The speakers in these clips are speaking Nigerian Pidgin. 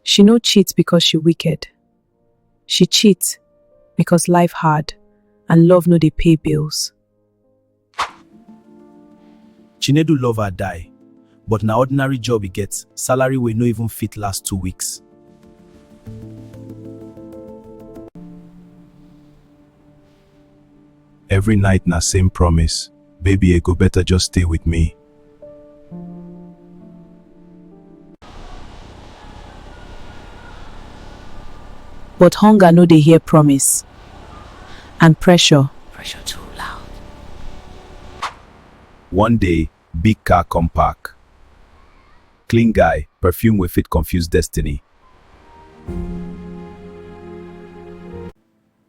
She no cheat because she wicked. She cheat because life hard and love no dey pay bills. Chinedu love her die, but na ordinary job e get, salary wey no even fit last two weeks. Every night na same promise, baby e go better just stay with me. But hunger no dey hear promise and pressure. Pressure too loud. One day, big car come park. Clean guy, perfume wey fit confuse destiny.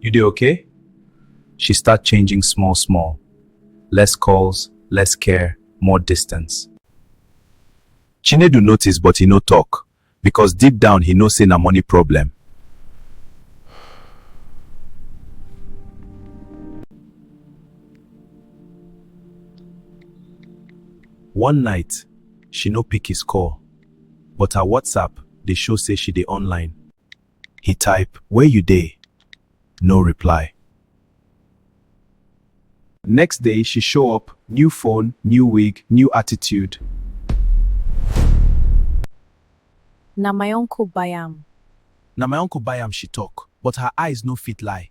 You dey okay? She start changing small small. Less calls, less care, more distance. Chinedu notice but he no talk because deep down he know say na money problem. One night, she no pick his call. But her WhatsApp dey show say she dey online. He type, Where you dey? No reply. Next day, she show up, new phone, new wig, new attitude. Na my uncle buy am. Na my uncle buy am, she talk, but her eyes no fit lie.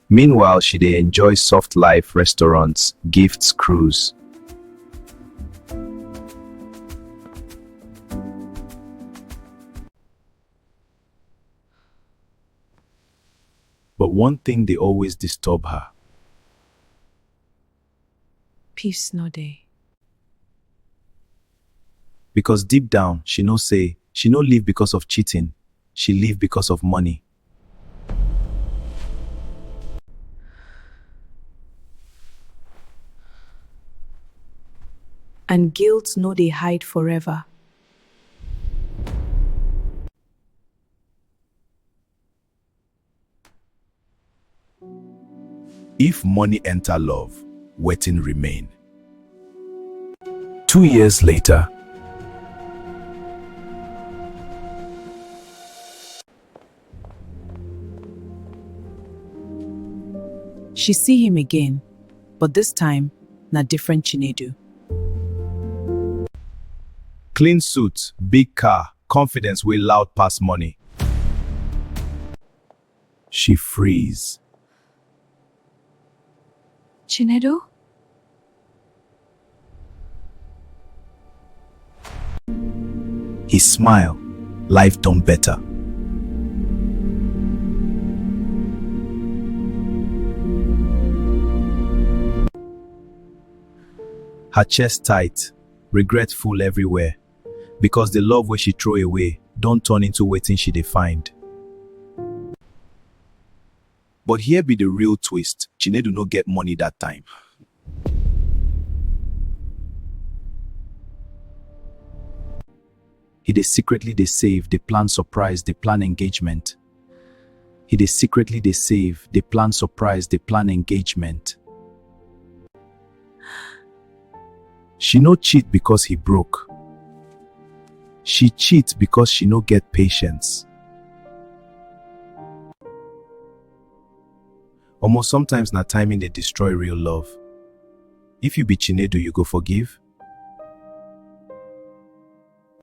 Meanwhile, she dey enjoy soft life, restaurants, gifts, cruise. But one thing dey always disturb her. peace no dey. Because deep down she know say she no live because of cheating, she live because of money. And guilt no dey hide forever. If money enter love, wetin remain? Two years later, She see him again, but this time na different Chinedu. clean suit, big car, Confidence wey loud pass money. She freeze. Chinedu? He smile. Life done better. Her chest tight, regret full everywhere. because the love wey she throw away don turn into wetin she dey find. But here be the real twist, Chinedu no get money that time. He dey secretly dey save, dey plan surprise, dey plan engagement. He dey secretly dey save, dey plan surprise, dey plan engagement. She no cheat because he broke. She cheat because she no get patience. Omo, sometimes na timing dey destroy real love. If you be Chinedu, you go forgive?